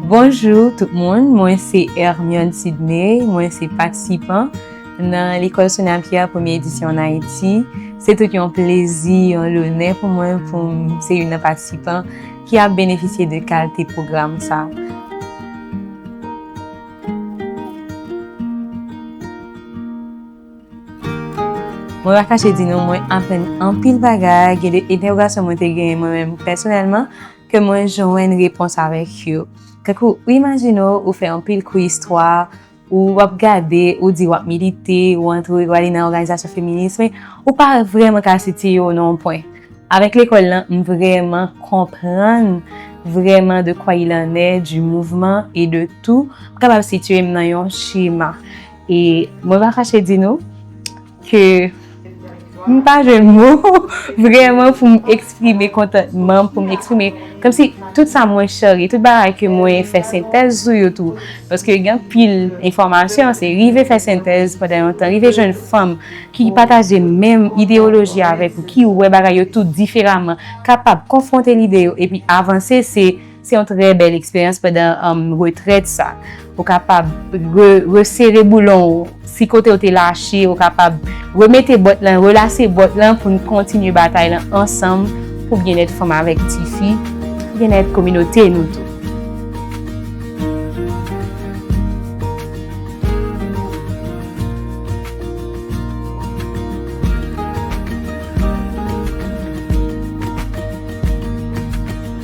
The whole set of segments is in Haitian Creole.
Bonjou tout moun, mwen se Hermione Sidney, mwen se patisipan nan Lekòl Sonia Pierre Premye Edisyon ann Ayiti. Se tout yon plezi, yon lonè pou mwen pou m se youn nan patisipan ki ap benefisye de kalte pwogram sa a. Mwen pa kache di nou mwen aprann anpil bagay, gen de entèwogasyon mwen te genyen mwen menm pèsonèlman. ke mwen jwenn repons avèk yo. Tankou, ou imajine w, ou fè anpil kou istwa, ou ap gade, ou di w ap milite, ou antre, ou ale nan òganizasyon feminis, men ou pa vrèman ka sitiye w nan yon pwen. Avèk lekòl lan, m vrèman konprann vrèman de kwa il en est du mouvement et de tout, m kapab sitiye m nan yon chema. E mwen pa fache di nou, ke m pa jwenn mo vrèman pou m eksprime kontantman m, pou m eksprime kòm si tout sa mwen cheri, tout bagay ke mwen fè sentèz sou yo tou, paske gen anpil enfòmasyon, se rive fè sentèz pandan yon tan, rive jwenn fanm ki pataje menm ideyoloji avèk ou, ki wè bagay yo tou diferaman, kapab konfwonte lide yo epi avanse, se. Se yon trè bèl eksperyans pandan retrèt sa. Ou kapab resere boulon ou, si kote ou te lache, ou kapab remete bòt lan, relase bòt lan pou n kontinye batay lan ansanm pou byennèt fanm avèk tifi, byennèt kominote nou tou.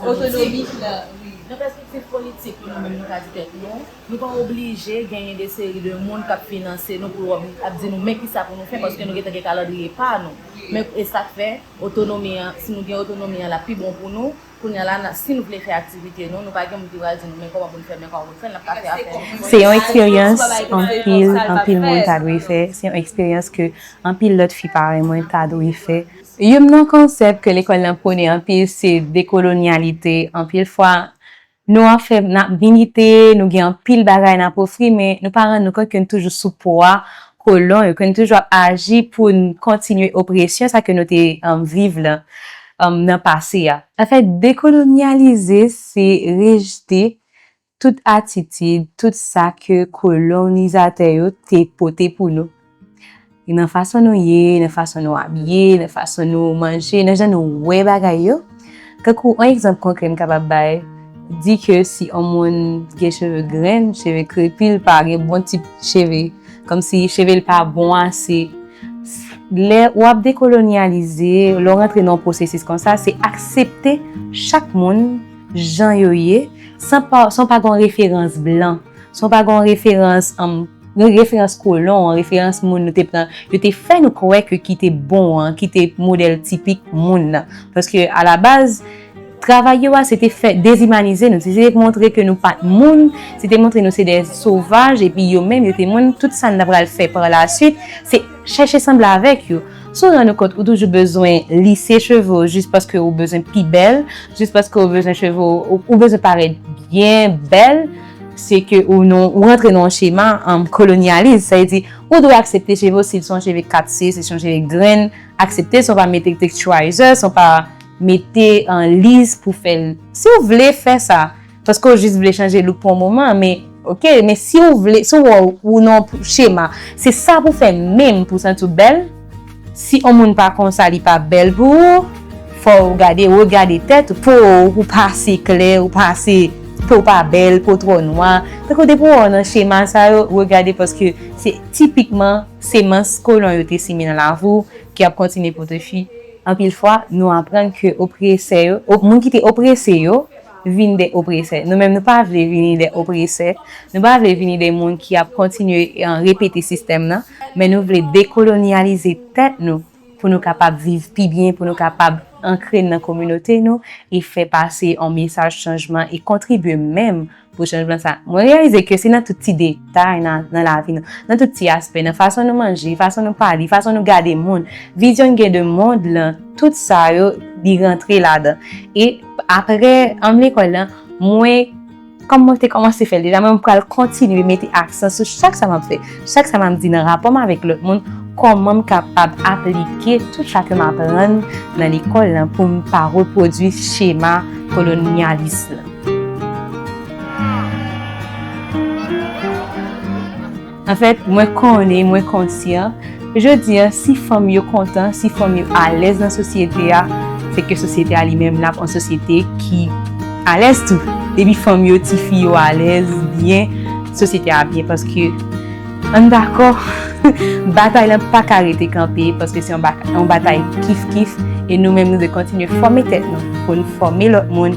Otonomik la, wi. Nan pèspektiv politik pou nou menm nou ka di tèt nou, nou pa oblije genyen de seri de moun k ap finanse nou pou yo ap di nou men kisa pou nou fè paske nou gentan gen kalandriye pa nou. Men e sa k fè otonomi an, si nou gen otonomi an l ap pi bon pou nou. Kounye a la, si nou vle fè aktivite nou, nou pa gen moun ki pral di nou men kòman pou n fè l men kòman pou n fè l, n ap ka fè afè nou. Se yon eksperyans anpil anpil moun ta dwe fè, se yon eksperyans ke anpil lòt fi parèy mwen ta dwe fè. Youn nan konsèp ke lekòl lan pwone anpil se dekolonyalite. Anpil fwa, nou ap fè, n ap milite, nou gen anpil bagay n ap ofri, men nou pa rann nou kont ke n toujou sou pwa kolon yo, ke n toujou ap aji pou n kontinye opresyon sa ke nou te viv lan nan pase a. Anfèt, dekolonyalize se rejte tout atitid, tout sa ke kolonizatè yo te pote pou nou. Nan fason nou ye, nan fason nou abiye, nan fason nou manje, nan jan nou wè bagay yo. Tankou yon egzanp konkrè m kapab bay, di ke si yon moun gen cheve grenn, cheve krepi, li pa gen bon tip cheve, kòmsi cheve l pa bon ase. Lè w ap dekolonyalize, lè w rantre nan yon pwosesis konsa, se aksepte chak moun. jan yo ye, san pa, san w pa gen yon referans blan, san w pa gen yon referans, yon referans kolon, yon referans moun nou te pran, yo te fè nou kwè ke ki te bon an, ki te modèl tipik moun nan. Paske a la baz, travay yo a, se te fè dezimanize nou, se te montre ke nou pa t moun, se te montre nou se de sovaj, epi yo menm yo te moun, tout sa n ta pral fè pa la suit, se. Chèche sanble avèk yo. Si w rann ou kont ou toujou bezwen lise cheve w jis paske ou bezwen pi bèl, jis paske ou bezwen cheve w, ou bezwen parèt byen bèl, se ke ou rantre nan yon chema kolonyalis. Sa vle di, ou dwe aksepte cheve w si l se yon cheve 4 se, si l se yon cheve grenn, aksepte l san w pa mete texturizer, san w pa mete liz pou fè l. Si w vle fè sa. Paske ou jis vle chanje look pou yon moman men ok men si ou vle si ou wè ou nan yon chema se sa pou fè menm pou santi ou bèl si yon moun pa konsa li pa bèl pou ou fò ou gade regade tèt ou po ou pa ase klè ou pa ase po ou pa bèl po ou twò nwa tankou depi ou wè ou nan chema sa yo regade paske se tipikman semans kolon yo te simen nan lavi ou ki ap kontinye pote fwi anpil fwa nou aprann ke opresè yo moun ki te oprese yo vin de opresè. Nou menm nou pa vle vini de opresè, nou pa vle vini de moun ki ap kontinye repete sistèm nan, men nou vle dekolonyalize tèt nou pou nou kapab viv pi byen, pou nou kapab ankre nan kominote nou e fè pase yon mesaj chanjman e kontribye menm pou chanjman sa. Mwen reyalize ke se nan tout ti de. batay nan lavi nou, nan tout ti aspè, nan fason nou manje, fason nou pale, fason nou gade moun, vizyon n gen de mond lan, tout sa yo li rantre ladan. E apre anm lekòl lan, mwen kòm mwen te kòmanse fè l deja, mwen pral kontinye mete aksan sou chak sa m ap fè, chak sa m ap di nan rapò m avèk lòt moun, kòman m kapab aplike tout sa ke m aprann nan lekòl lan pou m pa repwodui chema kolonyalis lan. Anfèt, mwen konnen, mwen konsyan, jodi a, si fanm yo kontan, si fanm yo alèz nan sosyete a, se ke sosyete a li menm l ap yon sosyete ki alèz tou. Depi fanm yo, ti fi yo alèz, byen, sosyete a ap byen paske an n dakò, batay lan pa ka rete kanpe paske se yon batay kif kif e nou menm nou dwe kontinye fòme tèt nou pou n fòme lòt moun.